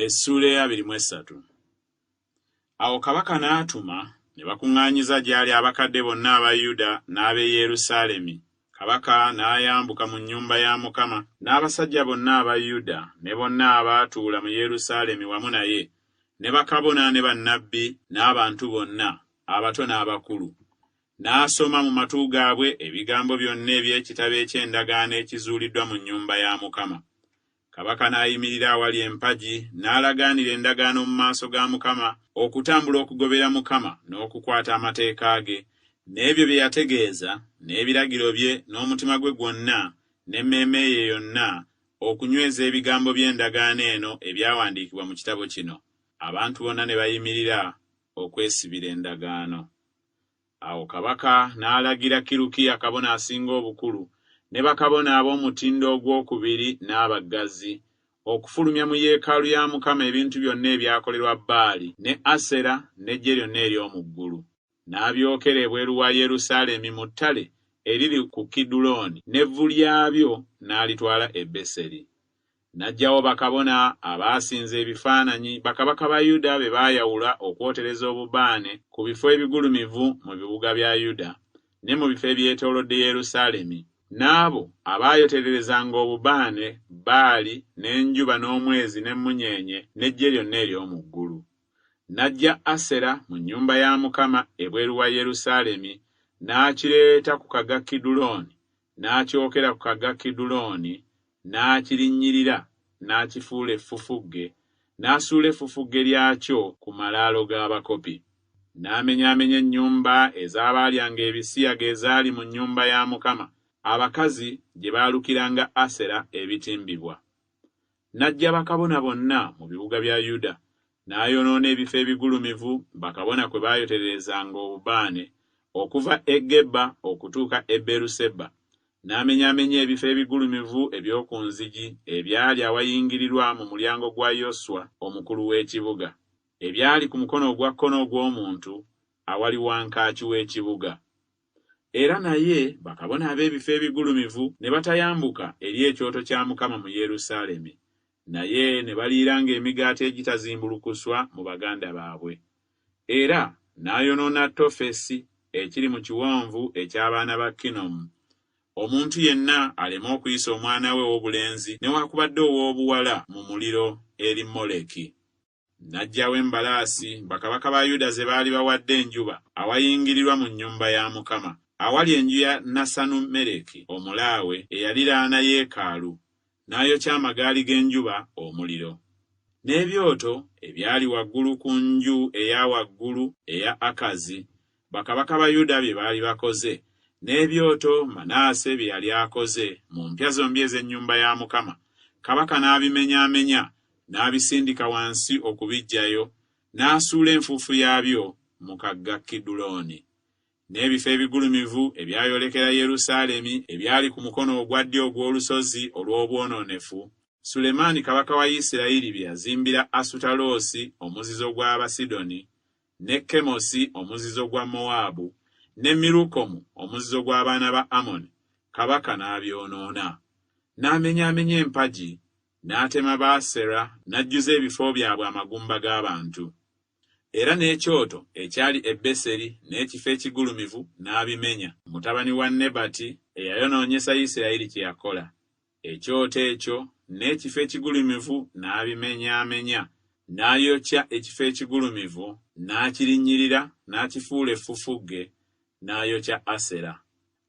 Essuula ey'abiri mu essatu. Awo kabaka n'atuma, ne bakuŋŋaanyiza gy'ali abakadde bonna aba Yuda n'ab'e Yerusaalemi, kabaka n'ayambuka mu nnyumba ya Mukama, n'abasajja bonna aba Yuda ne bonna abaatuula mu Yerusaalemi wamu naye, ne bakabona ne bannabbi n'abantu bonna, abato n'abakulu, n'asoma mu matu gaabwe ebigambo byonna eby'ekitabo eky'endagaano ekizuuliddwa mu nnyumba ya Mukama. Kabaka n'ayimirira awali empagi, n'alagaanira endagaano mu maaso ga Mukama, okutambula okugobera Mukama, n'okukwata amateeka ge, n'ebyo bye yategeeza, n'ebiragiro bye, n'omutima gwe gwonna, n'emmeeme ye yonna, okunyweza ebigambo by'endagaano eno ebyawandiikibwa mu kitabo kino. Abantu bonna ne bayimirira okwesibira endagaano. Awo kabaka n'alagira Kirukiya kabona asinga obukulu, ne bakabona ab'omutindo ogwokubiri n'abaggazi, okufulumya mu yeekaalu ya Mukama ebintu byonna ebyakolerwa Baali ne Asera n'eggye lyonna ery'omu ggulu, n'abyokera ebweru wa Yerusaalemi mu ttale eriri ku Kidulooni, n'evvu lyabyo n'alitwala e Beseri. N'aggyawo bakabona abaasinza ebifaananyi bakabaka ba Yuda be baayawula okwotereza obubaane ku bifo ebigulumivu mu bibuga bya Yuda ne mu bifo ebyetoolodde Yerusaalemi, n'abo abaayotererezanga obubaane Baali n'enjuba n'omwezi n'emmunyeenye n'eggye lyonna ery'omu ggulu. N'aggya Asera mu nnyumba ya Mukama ebweru wa Yerusaalemi, n'akireeta ku kaga Kidulooni n'akyokera ku kagga Kidulooni, n'akirinnyirira, n'akifuula effufugge, n'asuula effufugge lyakyo ku malaalo g'abakopi. N'amenyaamenya ennyumba ez'abaalyanga ebisiyaga ezaali mu nnyumba ya Mukama, abakazi gye baalukiranga Asera ebitimbibwa. N'aggya bakabona bonna mu bibuga bya Yuda, n'ayonoona ebifo ebigulumivu bakabona kwe baayotererezanga obubaane okuva e Geba okutuuka e Beeruseba, n'amenyaamenya ebifo ebigulumivu eby'oku nzigi ebyali awayingirirwa mu mulyango gwa Yoswa omukulu w'ekibuga, ebyali ku mukono ogwa kkono ogw'omuntu awali wankaaki w'ekibuga. Era naye bakabona ab'ebifo ebigulumivu ne batayambuka eri ekyoto kya Mukama mu Yerusaalemi, naye ne baliiranga emigaati egitazimbulukuswa mu baganda baabwe. Era n'ayonoona Tofesi ekiri mu kiwonvu eky'abaana ba Kinomu, omuntu yenna aleme okuyisa omwana we ow'obulenzi newakubadde ow'obuwala mu muliro eri Moleki. N'aggyawo embalaasi bakabaka ba Yuda ze baali bawadde enjuba awayingirirwa mu nnyumba ya Mukama, awali enju ya Nasanu-mereki Omulaawe eyaliraana yeekaalu, n'ayokya amagaali g'enjuba omuliro. N'ebyoto ebyali waggulu ku nju eya waggulu eya Akazi Bakabaka ba Yuda bye baali bakoze, n'ebyoto Manaase bye yali akoze mu mpya zombi ez'ennyumba ya Mukama, kabaka n'abimenyaamenya, n'abisindika wansi okubiggyayo, n'asuula enfuufu yaabyo mu kagga Kidulooni. N'ebifo ebigulumivu ebyayolekera Yerusaalemi ebyali ku mukono ogwa ddyo ogw'olusozi olw'obwonoonefu, Sulemaani kabaka wa Isirayiri bye yazimbira Asutaloosi omuzizo gw'Abasidoni, ne Kemosi omuzizo gwa Mowaabu, ne Mirukomu omuzizo gw'abaana ba Amoni, kabaka n'abyonoona. N'amenyaamenya empagi, n'atema Baasera, n'ajjuza ebifo byabwe amagumba g'abantu. Era n'ekyoto ekyali e Beseri n'ekifo ekigulumivu n'abimenya. Mutabani wa Nebati eyayonoonyesa Yisirayiri kye yakola. Ekyoto ekyo n'ekifo ekigulumivu n'abimenyaamenya, n'ayokya ekifo ekigulumivu, n'akirinnyirira, n'akifuula effufugge, n'ayokya Asera.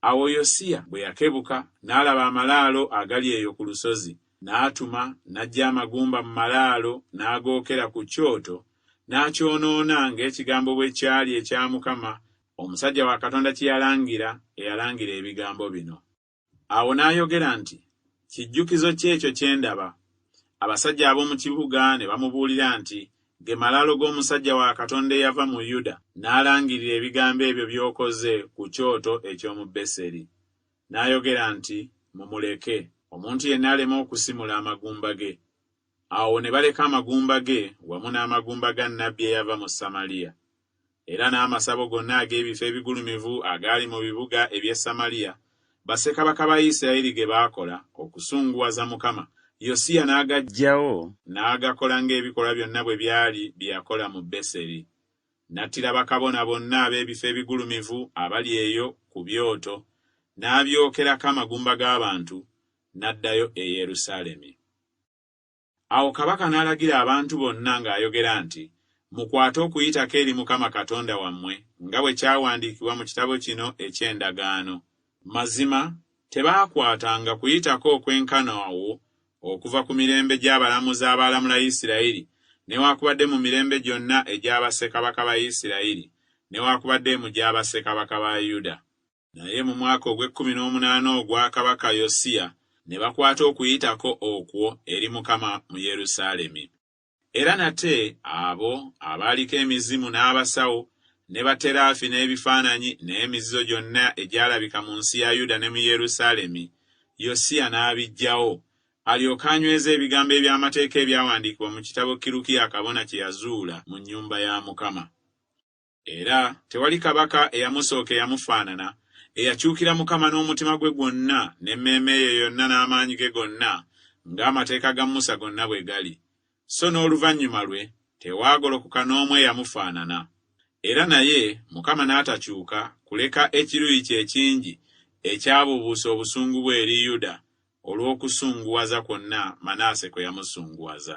Awo Yosiya bwe yakebuka, n'alaba amalaalo agali eyo ku lusozi, n'atuma, n'aggya amagumba mu malaalo, n'agookera ku kyoto, n'akyonoona, ng'ekigambo bwe kyali ekya Mukama, omusajja wa Katonda kye yalangira, eyalangira ebigambo bino. Awo n'ayogera nti, Kijjukizo ki ekyo kye ndaba? Abasajja ab'omu kibuga ne bamubuulira nti, Ge malaalo g'omusajja wa Katonda eyava mu Yuda, n'alangirira ebigambo ebyo by'okoze ku kyoto eky'omu Beseri. N'ayogera nti, Mumuleke, omuntu yenna aleme okusimula amagumba ge. Awo ne baleka amagumba ge wamu n'amagumba ga nnabbi eyava mu Samaliya, era n'amasabo gonna ag'ebifo ebigulumivu agaali mu bibuga eby'e Samaliya, bassekabaka ba Yisirayeli ge baakola okusunguwaza Mukama, Yosiya n'agaggyawo, n'agakola ng'ebikolwa byonna bwe byali bye yakola mu Beseri. N'attira bakabona bonna ab'ebifo ebigulumivu abali eyo ku byoto, n'abyokerako amagumba g'abantu, n'addayo e Yerusaalemi. Awo kabaka n'alagira abantu bonna ng'ayogera nti, Mukwate Okuyitako eri Mukama Katonda wammwe, nga bwe kyawandiikibwa mu kitabo kino eky'endagaano. Mazima tebaakwatanga Kuyitako okwenkana awo okuva ku mirembe gy'abalamuzi abaalamula Isirayiri, newakubadde mu mirembe gyonna egya bassekabaka ba Isirayiri, newakubadde emu gya bassekabaka ba Yuda. Naye mu mwaka ogw'ekkumi n'omunaana ogwa kabaka Yosiya ne bakwata Okuyitako okwo eri Mukama mu Yerusaalemi. Era nate abo abaaliko emizimu n'abasawo, ne baterafi n'ebifaananyi n'emizizo gyonna egyalabika mu nsi ya Yuda ne mu Yerusaalemi, Yosiya n'abiggyawo, alyoke anyweze ebigambo eby'Amateeka ebyawandiikibwa mu kitabo Kirukiya kabona kye yazuula mu nnyumba ya Mukama. Era tewali kabaka eyamusooka eyamufaanana, eyakyukira Mukama n'omutima gwe gwonna, n'emmeeme ye yonna n'amaanyi ge gonna, nga amateeka ga Musa gonna bwe gali, so n'oluvannyuma lwe tewaagolokoka n'omu eyamufaanana. Era naye Mukama n'atakyuka kuleka ekiruyi kye ekingi ekyabuubuusa obusungu bwe eri Yuda olw'okusunguwaza kwonna Manaase kwe yamusunguwaza.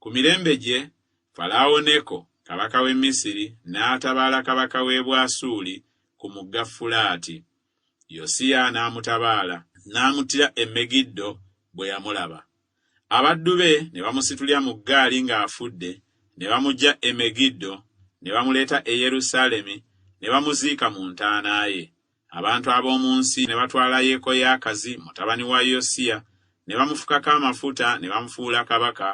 Ku mirembe gye, Falaawo Neko, kabaka w'e Misiri, n'atabaala kabaka w'e Bwasuli ku Mugga Fulaati. Yosiya n'amutabaala, n'amuttira e Megiddo bwe yamulaba. Abaddu be ne bamusitulira mu ggaali ng'afudde, ne bamuggya e Megiddo, ne bamuleeta e Yerusaalemi, ne bamuziika mu ntaana ye. Abantu ab'omu nsi ne batwala Yekoyaakazi mutabani wa Yosiya ne bamufukako amafuta ne bamufuula kabaka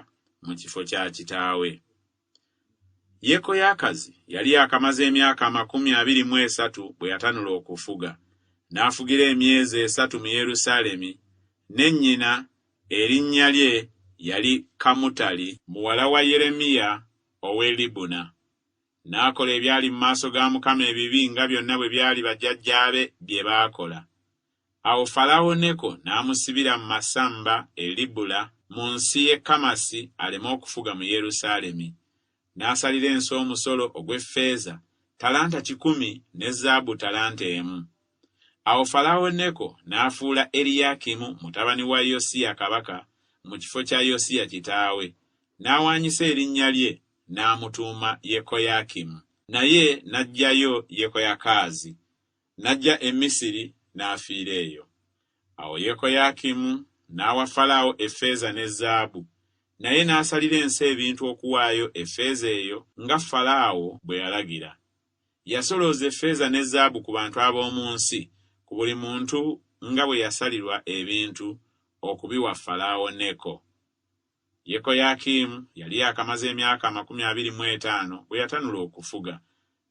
mu kifo kya kitaawe. Yekoyaakazi yali yakamaze emyaka amakumi abiri mu esatu bwe yatanula okufuga, n'afugira emyezi esatu mu Yerusaalemi, ne nnyina erinnya lye yali Kamutali muwala wa Yeremiya ow'e Libuna. N'akola ebyali mu maaso ga Mukama ebibi nga byonna bwe byali bajjajjaabe bye baakola. Awo Falaawo Neko n'amusibira mu masamba e Libula mu nsi y'e Kamasi aleme okufuga mu Yerusaalemi. N'asalira ensi omusolo ogw'effeeza ttalanta kikumi ne zaabu ttalanta emu. Awo Falaawo Neko n'afuula Eriyakimu mutabani wa Yosiya kabaka mu kifo kya Yosiya kitaawe, n'awaanyisa erinnya lye n'amutuuma Yekoyakimu, naye n'aggyayo Yekoyakaazi, n'ajja e Misiri n'afiira eyo. Awo Yekoyakimu n'awa Falaawo effeeza ne zaabu, naye n'asalira ensi ebintu okuwaayo effeeza eyo nga Falaawo bwe yalagira. Yasolooza effeeza ne zaabu ku bantu ab'omu nsi, ku buli muntu nga bwe yasalirwa ebintu okubiwa Falaawo Neko. Yekoyakimu yali yaakamaze emyaka amakumi abiri mu etaano bwe yatanula okufuga,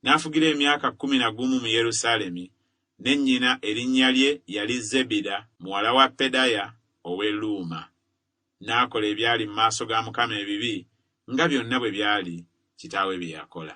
n'afugira emyaka kkumi na gumu mu Yerusaalemi, ne nnyina erinnya lye yali Zebida muwala wa Pedaya ow'e Luuma. N'akola ebyali mu maaso ga Mukama ebibi, nga byonna bwe byali kitaawe bye yakola.